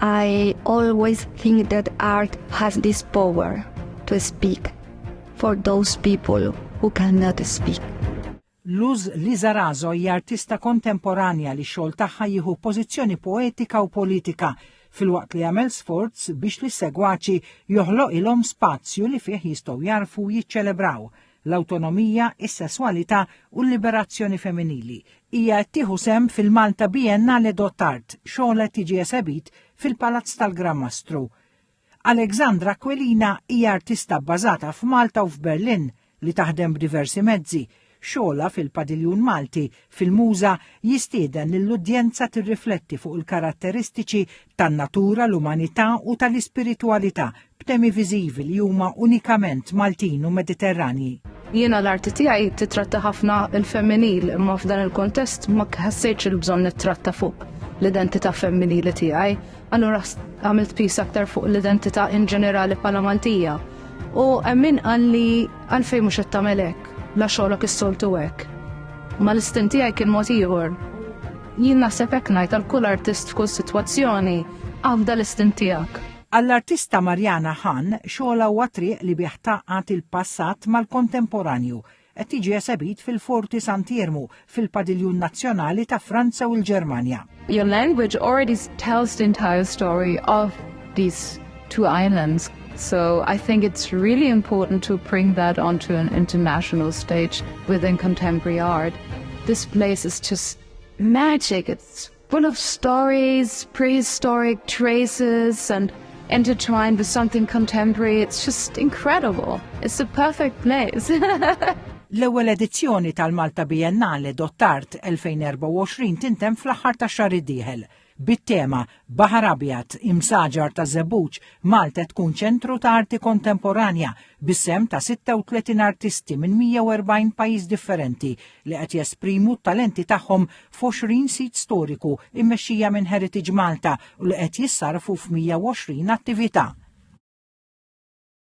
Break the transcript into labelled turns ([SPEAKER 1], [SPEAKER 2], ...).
[SPEAKER 1] I always think that art has this power to speak for those people who cannot speak. Luz
[SPEAKER 2] Lizarazo hija artista kontemporanja li xogħol tagħha jieħu pożizzjoni poetika u politika filwaqt li jagħmel sforz biex li segwaċi joħloq ilhom spazju li fih jistgħu jarfu jiċċelebraw l-awtonomija, is-sesswalità u l-liberazzjoni femminili. Hija qed tieħu sehem fil-Malta Biennale d'Art, xogħol qed jiġi esebit fil-Palazz tal-Gran Mastru. Alexandra Aquilina hija artista bbażata f'Malta u f'Berlin li taħdem b'diversi mezzi, xogħolha fil-Padiljun Malti fil-Muża jistieden lill-udjenza tirrifletti fuq il-karatteristiċi tan-natura, l-umanità u tal-ispiritwalità b'temi viżivi li huma unikament Maltin u Mediterranji. Jiena l-arti
[SPEAKER 3] tiegħi tittratta ħafna l-femminil imma f'dan il-kuntest ma ħassejtx il-bżonn nittratta fuq l-identità femminili tiegħi. Allura għamilt pis aktar fuq l-identità in ġenerali bħala Maltija. U għemmin għalli għalfej mux għettamelek, la xolok is-soltu għek. Ma l-istinti għaj kien mot iħor. Jien naħseb hekk ngħid għal kull artist f'kull sitwazzjoni għafda l-istin tiegħek. Għall-artista
[SPEAKER 2] Marjana Han, xogħla huwa triq li biħ taqgħat il-passat mal-kontemporanju, qed jiġi esebit fil-Forti Sant'Iermu, fil-Padiljun Nazzjonali ta' Franza u l-Ġermanja. Your language
[SPEAKER 4] already tells the entire story of these two islands, so I think it's really important to bring that onto an international stage within contemporary art. This place is just magic. It's Full of stories, prehistoric traces and intertwined with something contemporary. It's just incredible. It's the perfect place. L-ewwel
[SPEAKER 2] edizzjoni tal-Malta Biennale Dottart 2024 tintem fl-aħħar ta' xahar id-dieħel bit-tema Baħar Abjad imsaġar ta' Zebuċ Malta tkun ċentru ta' arti kontemporanja bis-sehem ta' 36 artisti minn 140 pajjiż differenti li qed jesprimu t-talenti tagħhom f'għoxrin sit storiku mmexxija minn Heritage Malta u li qed jissarrfu f'mija u għoxrin attività.